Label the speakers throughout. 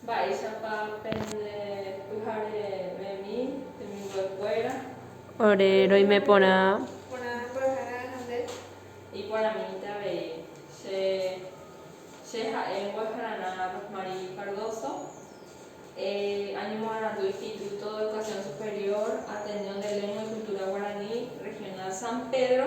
Speaker 1: Mba'éichapa pende pyharevemi temimbo'ekuéra. Ore
Speaker 2: roime porã. Porã porohayha añande.
Speaker 1: Iporãmínte avei. Che, che ha'e Mbo'ehararã Rosmarie Cardoso. E añemoarandu Instituto de Educación Superior, Ateneo de Lengua y Cultura Guaraní, Regional San Pedro.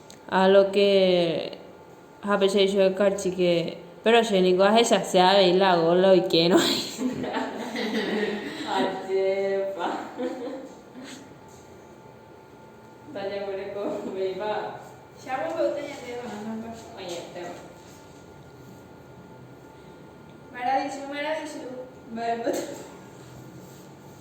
Speaker 2: Ha lo ke ha pe che ichugui karchike. Péro che ningo ahechase avei la góla oikerõ hag̃ua.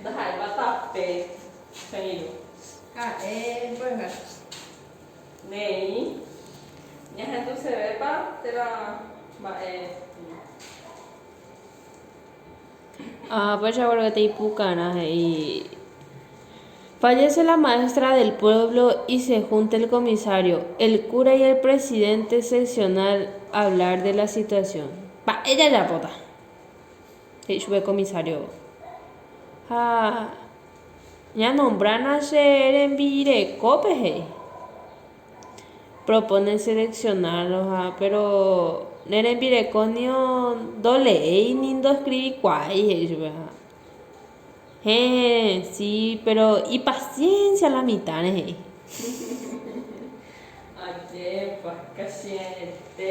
Speaker 1: Ndaha'éipa tape he'írõ. Ha'e
Speaker 3: mby'a.
Speaker 1: Ne'ĩ. Ñahendusevépa térã mba'e.
Speaker 2: Ha péicha guare katu ipukarã he'i, Fallece la maestra del pueblo y se junta el comisario, el cura y el presidente seccional a hablar de la situación. Mba'e jajapóta? he'i chupe comisario. Ha ñanombrárã che rembirekópe, he'i. Propone seleccionarloha, péro ne rembirekónio ndoleéi ni ndoeskrivikuaái, he'i chupeha. Héẽ, si, péro ipasiénsia la mitãre, he'i.
Speaker 1: Ajépa, kasiaete.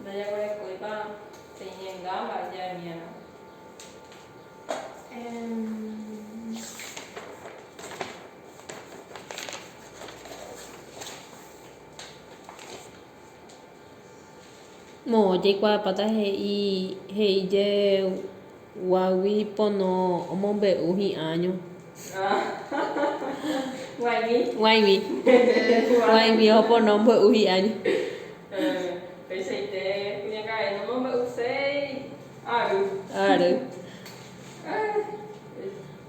Speaker 1: Ndajaguerekóipa peñenga mba'e jaimíarõ.
Speaker 2: Moõ jaikuaapáta he'i he'ijeguágui pono omombe'u hi'ãño.
Speaker 1: G̃uaig̃ui.
Speaker 2: G̃uaig̃ui opono ombo'u hi'ãño.
Speaker 1: Peichaite kuñakarai nomombe'uséi ary.
Speaker 2: Ary.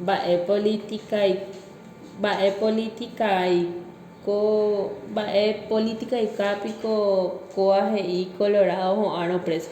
Speaker 2: Mba'e politika, mba'e politika ai. Ko mba'e política ika piko kóva he'i Colorado ho'árõ preso.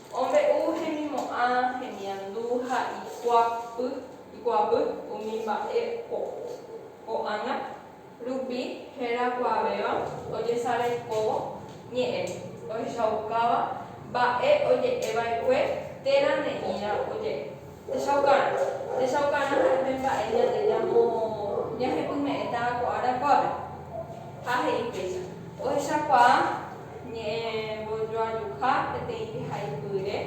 Speaker 1: Ombe'u hemimo'ã, hemiandu ha ikuapy umi mba'e ko'ág̃a rupi herakuãvéva ojesarekóvo ñe'ẽ ohechaukáva mba'e oje'eva'ekue térã ne'ĩra oje'e. Techaukarã. Techaukarã ha'e pe mba'e ñande ñamo ñahepyme'ẽta ko ára kuápe. Ha he'i péicha. Ohechakuaa. Ñe'ẽvojoajuha peteĩ jehaipyre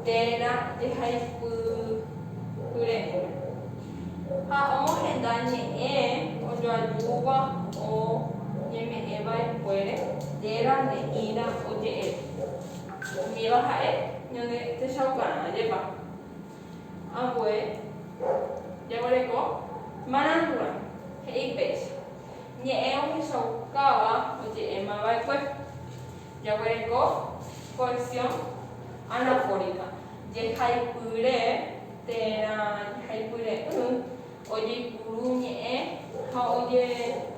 Speaker 1: térã jehaipyre'ỹme. Ha omohenda ñe'ẽ ojoajúva oñeme'ẽ va'ekuére térã ne'ĩra oje'eve. Umíva ha'e ñande techaukarã ajépa. Ambue, jaguereko marãngu'rã, he'i péicha, ñe'ẽ ohechaukáva oje'éma va'ekue. Jaguereko cohesión anafórica, jehaipyre térã jehaipyre'ỹ ojeipuru ñe'ẽ ha oje'e.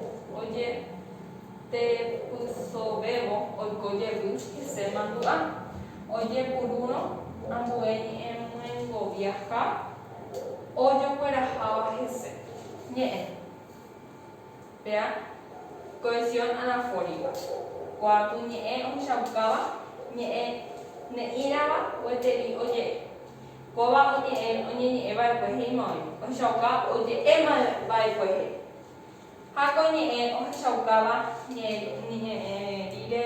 Speaker 1: Tepysovévo oiko jevy hese mandu'a, ojepurúrõ ambue ñe'ẽmyengovia ha ojokueraháva hese ñe'ẽ. Péa cohesión anafórica, kuaku ñe'ẽ ohechaukáva ñe'ẽ ne'ĩrava gueteri oje'e. Kóva oñe'ẽ oñeñe'ẽ vaekue he'íma oĩ ohechauka oje'e vaekue he'i. Ha ko ñe'ẽ ohechaukáva ñe'ẽ rire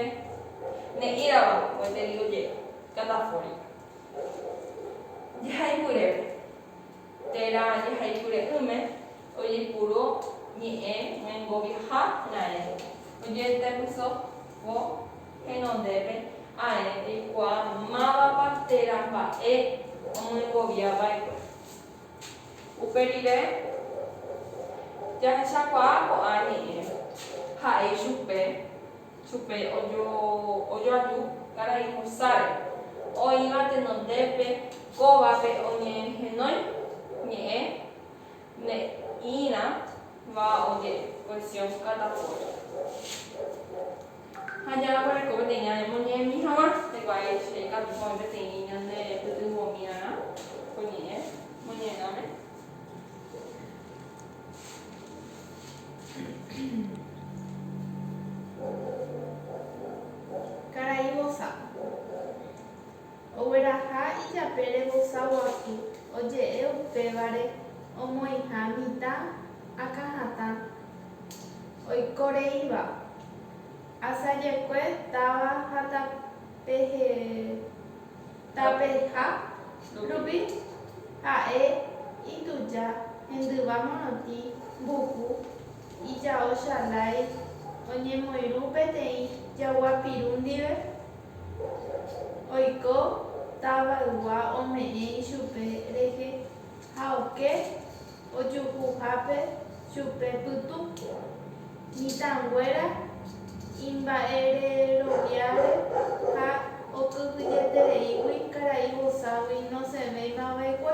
Speaker 1: ne'írava gueteri oje'e katapóri. Jehayhurépe, térã jehayhure'ỹme, ojepuru ñe'ẽ ñangoviaha raẽ, ojetepyso ko henondépe aẽ reikuaa mávapa térã mba'e omyengovia va'ekue. Upe rire, jahechakuaa ko'ã ñe'ẽ, ha'e ichupe, chupe ojoaju karai Musáre, oĩva tenondépe kóvape oñehenói ñe'ẽ ne'ĩrãva oje'e. Versión Catapollo. Ha jaguereko peteĩ aña omoñe'ẽmi hag̃ua. Hikuái che katu oĩ peteĩ ñande pytyvõmiarã ko ñe'ẽ moñe'ẽrãme.
Speaker 3: Karai vosa. Ogueraha ijapére vosa guasu oje'e upévare omoĩha mitã akãhatã oiko reíva, asajekue táva ha tapeha rupi ha'e ituja hendyva morotĩ mbuku ijao chalái oñemoirũ peteĩ jagua piru ndive. Oiko tavaygua ome'ẽ ichupe rehe ha oke ojuhuhápe chupe pytu. Mitãnguéra imba'ereroviáre ha okyhyjetereígui karai voságui nosẽvéima va'ekue.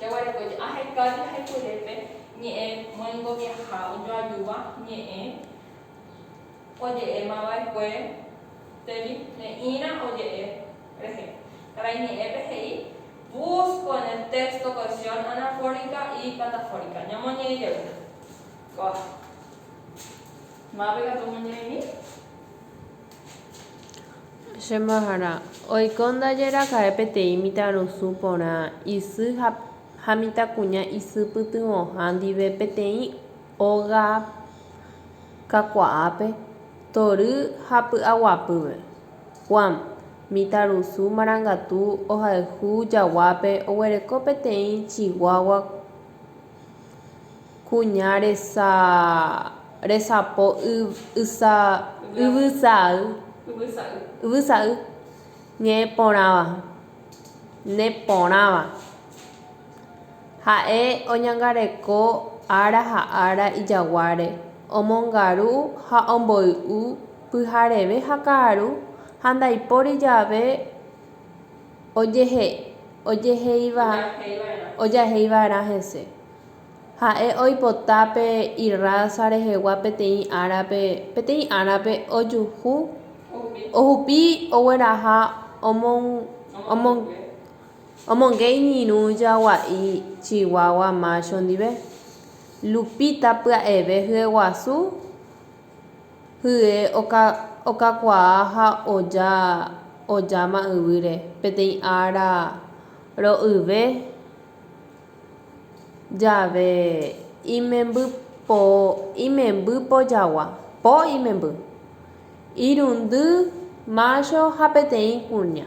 Speaker 2: Jaguareko
Speaker 1: aheka jahayhuelépe ñe'ẽ moingoviaha ojoajúva ñe'ẽ oje'émava'ekue térĩ ne'ĩrã oje'e rehe. Karai ñe'ẽpe he'i, Busco en el texto cohesión anafórica y catafórica. Ñamoñe'ẽ jey. Kóva. Mápe katu omoñe'ẽmi.
Speaker 2: Che mbahára, oiko ndaje raka'e peteĩ mitãrusu porã isy ha mitãkuña isy pytyvõha ndive peteĩ óga kakuaápe, tory ha py'aguapýpe. Juan, mitãrusu marangatu ohayhu jaguápe, oguereko peteĩ chiguágua kuimba'e. Kuña resapo yvysa'y ñe'ẽporãva. Neporãva. Ha'e oñangareko ára ha ára ijaguáre, omongaru ha omboy'u pyhareve ha ka'aru ha ndaipóri jave ojahei va'erã hese. Ha'e oipota pe irrása rehegua peteĩ árape, peteĩ árape ojuhu, ohupi ogueraha omonge iñirũ jagua'i chiguagua mácho ndive. Lupita pya'eve hyeguasu. Hye okakuaa ha oja ojáma yvýre. Peteĩ ára ro'yve jave imemby po imemby pojagua, po imemby, irundy mácho ha peteĩ kuña.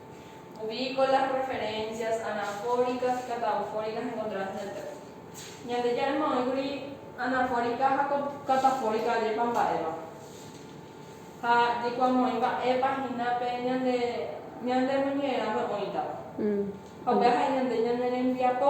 Speaker 1: Ubico las referencias anafóricas y catafóricas encontradas en el texto. Ñandejára emo'ẽkuri anafórica ha catafórica ajépa mba'éva. Ha jaikuaamo'ãi mba'épa hína pe ñande ñandemoñe'ẽrãme oĩtava. Ha upéva ha'e ñande ñane rembiapo.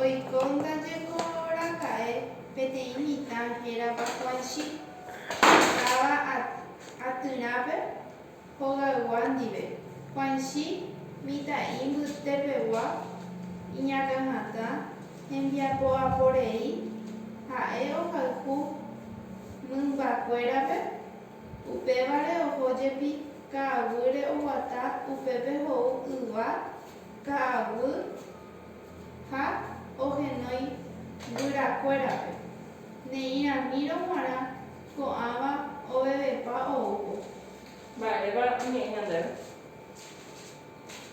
Speaker 3: Oiko ndaje ko raka'e peteĩ mitã hérava Huanchi, okáva atyrãpe hogaygua ndive. Huanchi mitã'i mbytepegua iñakãhatã hembiapo'aporei, ha'e ohayhu mymbakuérape, upévare oho jepi ka'aguýre oguata upépe hou yva ka'aguy ha ohenói guyrakuérape, neirãmírõ g̃uarã ko'ãva ovevepa oúvo. Mba'érepa oñe'ẽ ñandéve?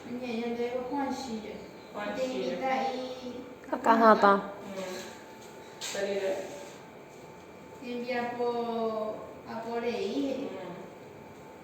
Speaker 3: Oñe'ẽ ñandéve ko Juanchíre. Juanchíre. Imitã'i akãhatã.
Speaker 2: Pe rire.
Speaker 3: Hembiapo apo rei he'i.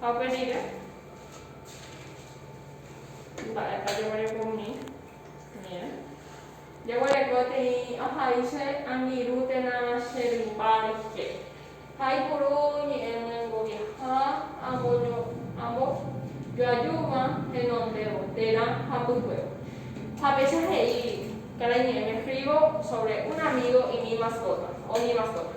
Speaker 3: Ha upe
Speaker 1: rire, mba'épa jaguereko umi ñe'ẽ? Jaguereko teĩ ohai che angirũ térã che rymba rehe. Ha ipuru ñe'ẽ myengoviaha ambo joajúva henondévo térã hapýpe. Ha péicha he'i karai ñe'ẽme Frigo sobre un amigo y mi mascota, o mi mascota.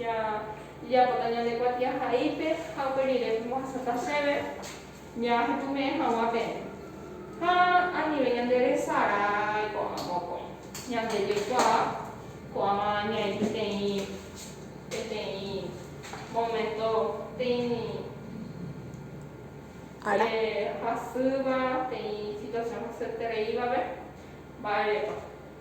Speaker 1: Jajapóta ñande kuatiahaípe ha upe rire pemohasata chéve jajetume'ẽ hag̃ua peẽ. Ha anive ñande resarái ko'ág̃a mokõi. Ñande jaikuaa ko'ág̃a ñaĩ peteĩ, peteĩ momento peĩ
Speaker 2: ára hasýva,
Speaker 1: peĩ situación hasyetereívape. Mba'érepa?